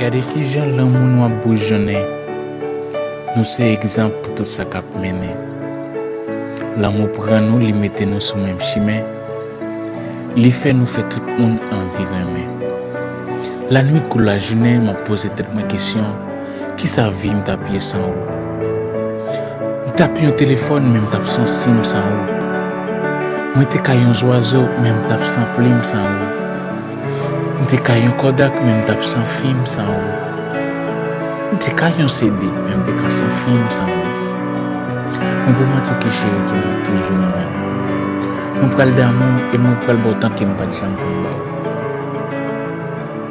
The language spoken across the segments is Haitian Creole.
Gade kijan lanmou nou ap boujonnen, nou se egzanp pou tout sa kap mennen. Lanmou pran nou li mete nou sou menm chimen, li fè nou fè tout moun anvi renmen. Lanwit kou lajounen map poze tèt mwen kesyon, Kisa vim tap ye san ou. M tap yon telefòn menm tap san sim san ou. Mwen te ka yon zwazo menm tap san plim san ou. M te ka yon kodak menm tap san fim san ou. M te ka yon CD menm te ka san fim san ou. Mwen pou mwen touke cheri ke map toujou renmen ou. Mwen pral damou e mwen pral baw tankem pat janm konn baw.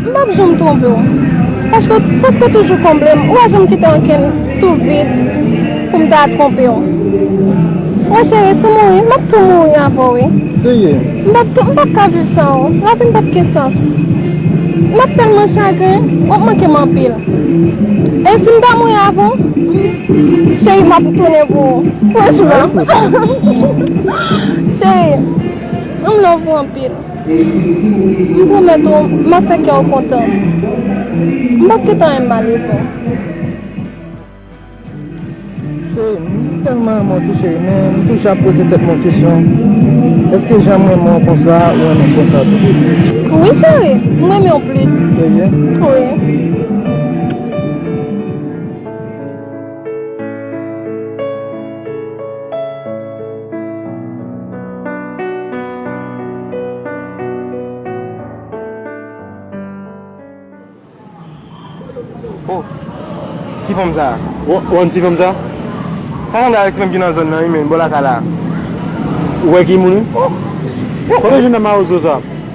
M pap janm twonpe w. Paske w preske toujou konble m. Ou pa janm kite ankenn tou vid pou m ta twonpe w. Wè cheri, si m mouri, m ap tou mouri avè w wi. Seye. M pap tou, m pap ka viv san ou. Lavi m pap gen sans. M ap tèlman chagren, w ap manke m anpil. E si m ta mouri avè w, cheri m ap tounen pou ou. Franchman. Cheri, m love ou anpil. M pwomèt ou m ap fè kè w kontan. M pap gentan renmn m ale non. Cheri m, m tèlman renmen w tou cheri men m toujou ap poze tèt mwen kesyon èske jan m renmen w konsa ou renmen m konsa tou. Wi cheri, m renmen w plis. Serye? Wi. Oh, ki fanm sa a? Ou konn ti fanm sa a? Sa sanble avèk ti fanm ki nan zòn nan wi men, bò lakay la a. Ou wè ki moun li? Oh! Kote jennè mawozo sa a?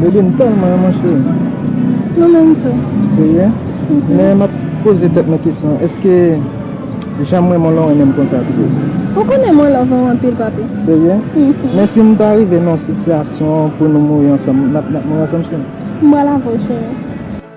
Baby m telman renmen w cheri. Mwen menm tou. Serye? Men map poze tèt mwen kesyon eske janm renmen w lan w renmen m konsa tou? Ou konnen mwen love ou anpil papi. Serye? Men si nou ta rive nan yon sitiyasyon pou nou mouri ansanm nap mouri ansanm cheri? M pral avè w cheri.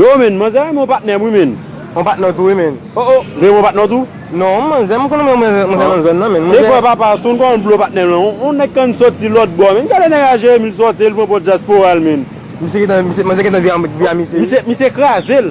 Yoo menn, manzè renmen yon patnè'm wi menn. Yon patnè'w tou wi menn. Oh oh, renmen yon patnè'w tou? Non, manzè, m'konn renmen yon manzè nan zòn nan menn. Te kwè papa a son'w kòman'l blo patnè'm lan. Yon nèg konn sòti lòt bò menn. Gade nèg a Jeremi, li sòti, li pran pò Diaspora l menn. Misye gentan, manzè gentan vye a misye wi. Misye kraze'l.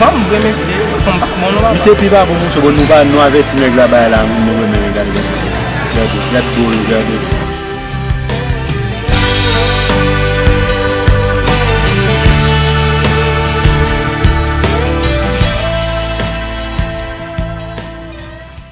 Fanm vre mesye, fanm pa bon non papa. Misye pi pa bon mesye bon nou pa nou avèti nèg la bay la moun nou renmen yo gade gade gade gad do yo gade.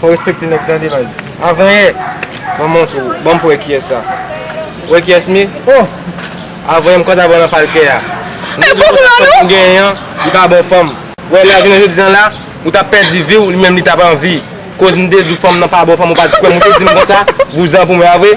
Fò respekte nèg tande baz. Avanyè mwen montre w banm pou wè kiyès sa. Ou wè kiyès m ye? Oh! Avanyè m kontan pran nan pal kè a. Mwen di w konsa fanm ou genyen an li pa bon fanm. Ou wè la jounen jodi an la ou tap pèdi vi w li menm li tap anvi. Koz m te di w fanm nan pa bon fanm ou pat kwè m ou te di m konsa vouzan pou mwen a vre.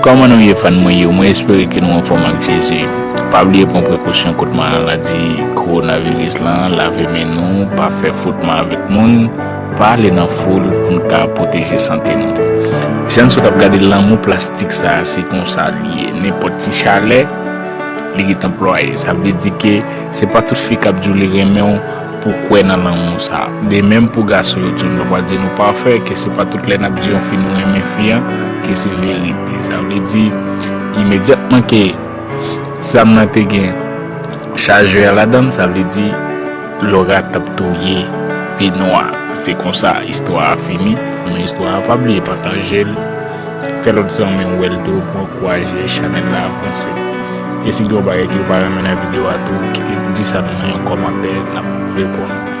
Kòman nou ye fan mwen yo mwen espere ke nou anfòm ak Jezi pa bliye pran prekosyon kont maladi kowonaviris lan lave men nou pa fè fwotman avèk moun pa ale nan foul pou n ka pwoteje sante nou jan n sot ap gade lanmou plastik sa se konsa l ye nenpòt ti chalè li ret anplwaye sa vle di ke se pa tout fi k ap di w li renmen w pou kwè nan lanmou sa. De menm pou gason yo tou nou pa di nou pafè ke se pa tout lè nap di yon fi nou renmen fi an ke se verite sa vle di imedyatman ke zam nan te gen chajè a ladann sa vle di Laura tap touye Benoit se konsa istwa a fini men istwa a pa bliye patajel. Fè lòt zanmiw wèl tou pou ankouraje chanèl la avanse. E si gen yon bagay kew pa renmen nan video a tou kite di sa nou nan yon kòmantè nap reponn ou.